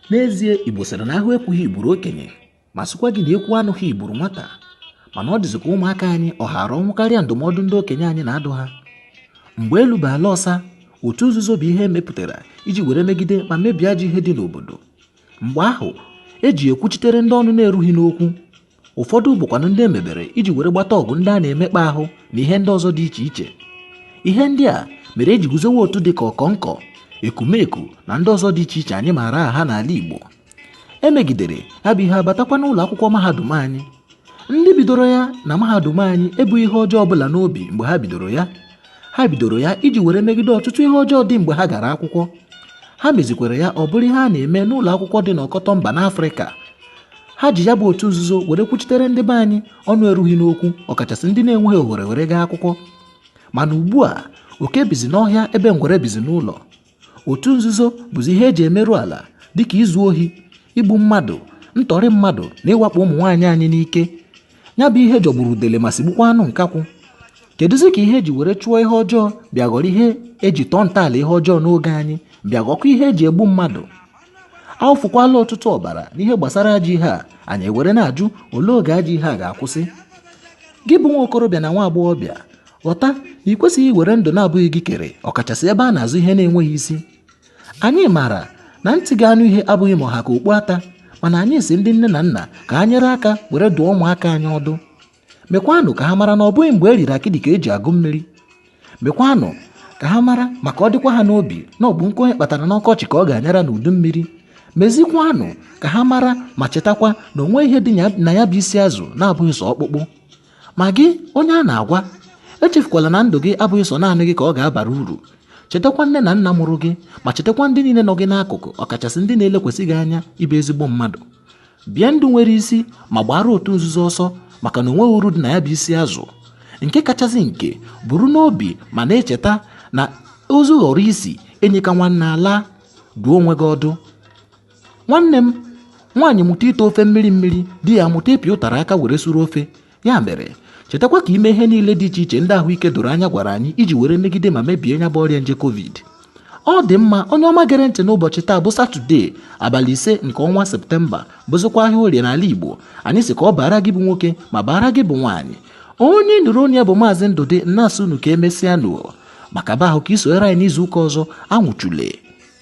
n'ezie igbo sịrị na ahụ ekwughị gburu okenye ma sịkwa gị na ekwuo anụghị gburu nwata mana ọ dịzị ka ụmụaka anyị ọ haara ọnwụ karịa ndụmọdụ ndị okenye anyị na-adụ ha mgbe elu bụ ala ọsa otu nzuzo bụ ihe emepụtara iji were megide ma mebie ajọ ihe dị n'obodo mgbe ahụ e ji ekwuchitere ndị ọnụ na-erughị n'okwu ụfọdụ bụkwanụ ndị emebere iji were gbata ọgụ ndị a na-emekpa ahụ na ihe ndị ọzọ dị iche iche ihe ndị a mere eji guzowe otu dị ka ọkọnkọ ekumeku na ndị ọzọ dị iche iche anyị maara aha n'ala Igbo emegidere ha bụ ihe abatakwa n'ụlọ akwụkwọ mahadum anyị ndị bidoro ya na mahadum anyị ebughị ihe ọjọọ ọbụla n'obi mgbe ha bidoro ya ha bidoro ya iji were megide ọtụtụ ihe ọjọọ dị mgbe ha gara akwụkwọ ha mezikwere ya ọ bụrụ ihe a na-eme n'ụlọ akwụkwọ dị n'ọkọtọ mba n'afrịka ha ji ya bụ otu nzuzo were kwuchitere ndị be anyị ọnụ erughị n'okwu ọkachasị ndị na-enweghị ohere were gaa akwụkwọ mana ugbu a oke bizi n'ọhịa ebe ngwere bizi n'ụlọ otu nzuzo bụzi ihe eji emerụ ala dịka izu ohi igbu mmadụ ntọrị mmadụ na ịwakpo ụmụ nwaanyị anyị n'ike ya bụ ihe jọgburu udele ma sigbukwa anụ nkakwụ kedụzi ka ihe eji were chụọ ihe ọjọọ bịa ghọrọ ihe eji tọọ ntọala ihe ọjọọ n'oge anyị bịa ghọkwa ihe eji egbu mmadụ awụfukwala ọtụtụ ọbara n'ihe gbasara ajọ ihe a anyị ewere na-ajụ olee oge ajọ ihe a ga-akwụsị gị bụ nwa okorobịa na nwa agbọghọbịa ghọta na ị kwesịghị iwere ndụ na-abụghị gị kere ọkachasị ebe a na-azọ ihe na-enweghị isi anyị maara na ntị ga-anụ ihe abụghị ma ọ ha ka okpu ata mana anyị sị ndị nne na nna ka ha nyere aka were dụọ ụmụaka anyị ọdụ mekwanụ ka ha mara na ọ bụghị mgbe e riri akịdị ka eji agụ mmiri mekwanụ ka ha mara ma ka ọ dịkwa ha n'obi na ọbụ nkụ onye kpatara n'ọkọchị ka ọ ga-anyara n'udu mmiri mezikwanụ ka ha mara ma chetakwa na onweghị ihe dị na ya bụ isi azụ na-abụghị sọ ọkpụkpụ ma gị onye a na-agwa echefukwala na ndụ gị abụghị sọ naanị gị ka ọ ga-abara uru chetakwa nne na nna mụrụ gị ma chetakwa ndị niile nọ gị n'akụkụ ọkachasị ndị na-elekwasị gị anya ịbụ ezigbo mmadụ bie ndụ nwere isi ma gbaara otu nzuzo ọsọ maka na onweghị uru dị na ya bụ isi azụ nke kachasị nke buru n'obi ma na-echeta na ozu ghọrọ isi enyi ka nwanne alaa dụọ onwe gị ọdụ nwanne m nwaanyị mụta ite ofe mmiri mmiri di ya amụta ịpị ụtara aka were suru ofe ya mere chetakwa ka i mee ihe niile dị iche iche ndị ahụike doro anya gwara anyị iji were megide ma mebie nya bụ ọrịa nje covid ọ dị mma onye ọma gere ntị n'ụbọchị taa bụ satọde abalị ise nke ọnwa septemba bụzikwa ahịa orie n'ala igbo anyị sị ka ọ baara gị bụ nwoke ma baara gị bụ nwaanyị onye nụrụ olu ya bụ maazị ndụdị na-asị unu ka emesịa nụ maka ba ahụ ka i sonyere anyị n'izu ụka ọzọ anwụchule